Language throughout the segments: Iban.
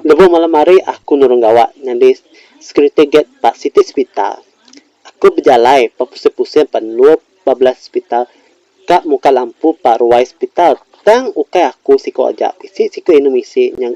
Lebuh malam hari aku nurung gawa nyadi security guard ba siti sepital. Aku bejalai ba pusing-pusing ba dua ba belas sepital ka muka lampu ba ruai sepital tang ukai aku siku aja bisi siku inu misi nya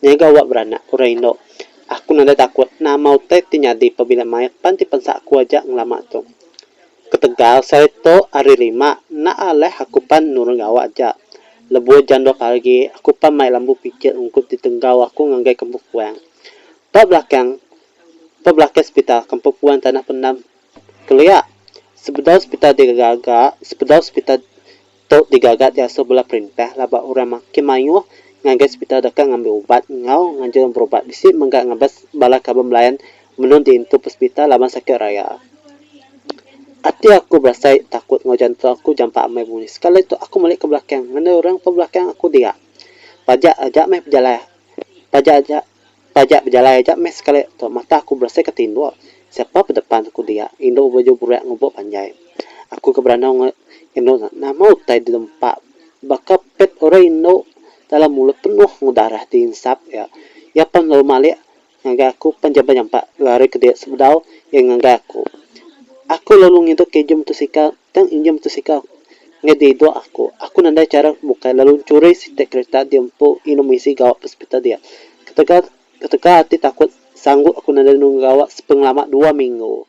nya gawa beranak orang indu. Aku nadai takut nama utai ti nyadi pabila maya pan ti pensa aku aja ngelama tu. Ketegal sereto ari lima enda alih aku pan nurung gawa aja. Lebuh jam dua pagi aku pan mai lambu pijil ungkup ditenggau aku ngagai Kampung Puang. Ba belakang ba belakang sepital Kampung Puang tanah pendam kelia. Sebedau sepital digaga-gaga, sebedau sepital. Tu digaga diasuh bala perintah lah ba orang makin mayuh ngagai sepital deka ngambi ubat enggau nganjung berubat bisi mega ngabas bala kaban belayan menung diintu pesepital laban sakit raya. Ati aku berasai takut enggau jantung aku jampat amai bunyi sekali tu aku meli ke belakang ngandai orang ke belakang aku dia. Pajak aja meh pejalai paja aja. Taja bejalai aja meh sekali tu mata aku berasai ke tinduk. Siapa pe depan aku dia. Indu baju burak ngubuk panjai. Aku ke berandau nge indu nya nama utai di lempa baka pet orang indu dalam mulut penuh enggau darah di insap iya. Iya pan lalu malik ngagai aku pan iya benyampak lari ke dia sebedau iya ngagai aku. Aku lalu ngidupka injin mutosikal tang injin mutosikal. Nyadi dua aku. Aku nadai chara ke bukai lalu nchuri siti kerita di empu inum isi gawa pespita dia. Ketegal ketegal ati takut sanggup aku nadai nunggu gawa sepengelama dua minggu.